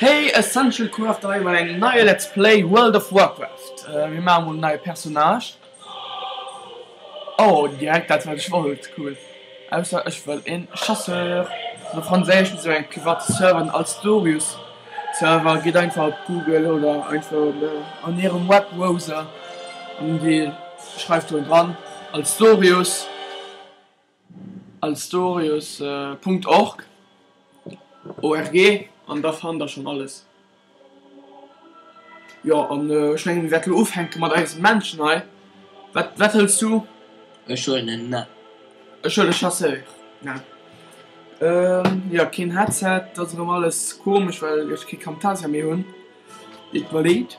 Hey essential crew haut hei bei engem neie let's play world of warcraft, mir maache mol en neie personnage, oh direkt dat wat ech wollt cool ausser ech wëll een chasseur no franséisch wisou eng privat serveren als dorius server gitt einfach op google oder einfach an hirem web browser an dir schreift do dran als dorius. Alstorius Punkt org org an da fannt der schonn alles. Jo an ech mengen mir wäerte lo ufänke mat eisem Männchen hei. Wat wat hëls du? Ech huelen en Nä. Ech huele Chasseur Nä. Jo keen Headset, dat ass erëm alles komesch well ech kee Camtasia méi hunn. Et mer leed.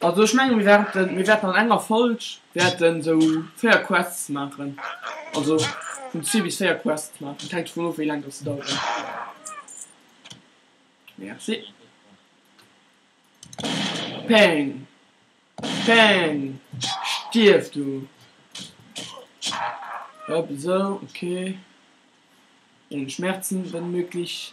Also ech menge mir wäerten, mir wäerten an enger Folg wäerte sou véier Quests maachen. Also vun zwee bis véier Quests maachen. Hänkt dovun of wéi laang datt se daueren. Merci. Peng. Peng. Stierf du. Hop esou, okay. Ohne Schmerzen, wenn möglich.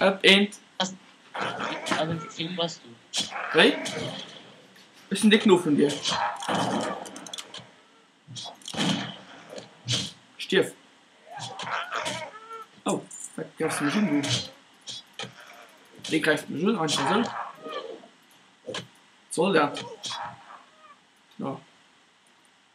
Op eent. Wéi? Ech sinn de Knuff vun dir. Stierf. Oh, wat gräifs du mech un, du? Wéi gräifs du mech un? Einfach esou? Wat soll dat? No.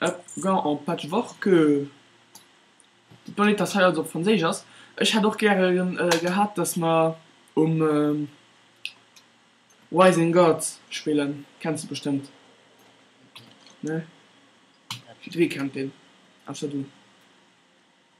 Ep gant en patchworkDe Bonnet, dat hei also op Franséisch ass. Ech hätt och gäre gehat, dass mer um Rising God spillen. Kenns de bestëmmt, ne? Jiddweree kennt deen, ausser du.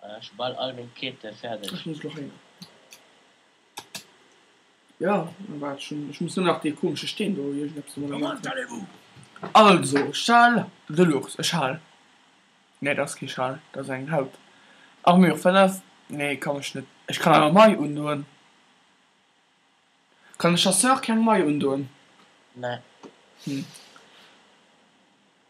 Voilà, schon bald all meng Quête fertig. Ech muss lo heier. Ja, an wat schon, ech muss lo nach dee komesche Steen do iergendeppes emol ermachen. Also, Schal de l'ours, e Schal, nee, dat ass kee Schal, dat ass eng Haut, Armure 5, nee, kann ech net, ech kann awer Maille undoen, kann de Chasseur keng Maille undoen? Nee. Hm.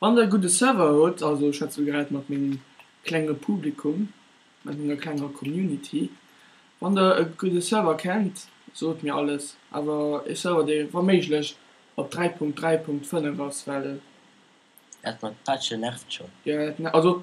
Wann der e gudde Server hutt, also ech schwätze elo grad mat mengem klenge Publikum, mat menger klenger Community, wann der e gudde Server kennt, sot mir alles, awer e Server dee wa méiglech op 3.3.5 ass, well. Dat mat Patche nervt schonn. Jo, dat nervt, also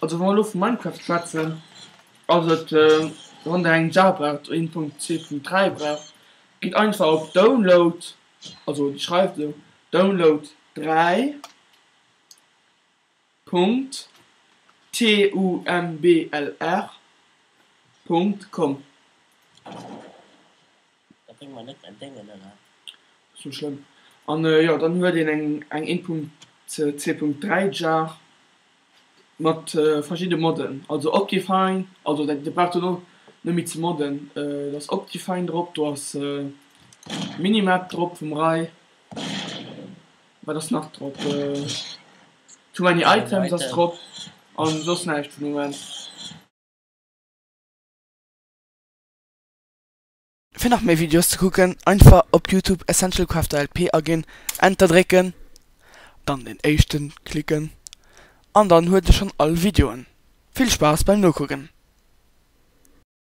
Also wa mer elo vu Minecraft schwätzen, ass et wann der eng Java braucht, een Punkt zwee Punkt dräi braucht, gitt einfach op download, also déi schreift esou, download dräi Punkt TUMBLR Punkt com. Dat bréngt mer net entgéngen, oder? Ass net schlëmm. An jo, dann huet een eng eng 1.2.3 Jar mat verschidde Moden. Also Optifine, also dat Dir braucht elo net méi ze modden. Do ass Optifine drop, do ass Minimap drop vum Ray. Wat ass nach drop? Too many items ass drop an soss näischt fir de Moment. Fir nach méi Videos ze kucken, einfach op Youtube Essential Crafter LP aginn, Enter drécken, dann den éischten klicken an dann huet e schonn all Videoen. Vill Spaass beim Nokucken!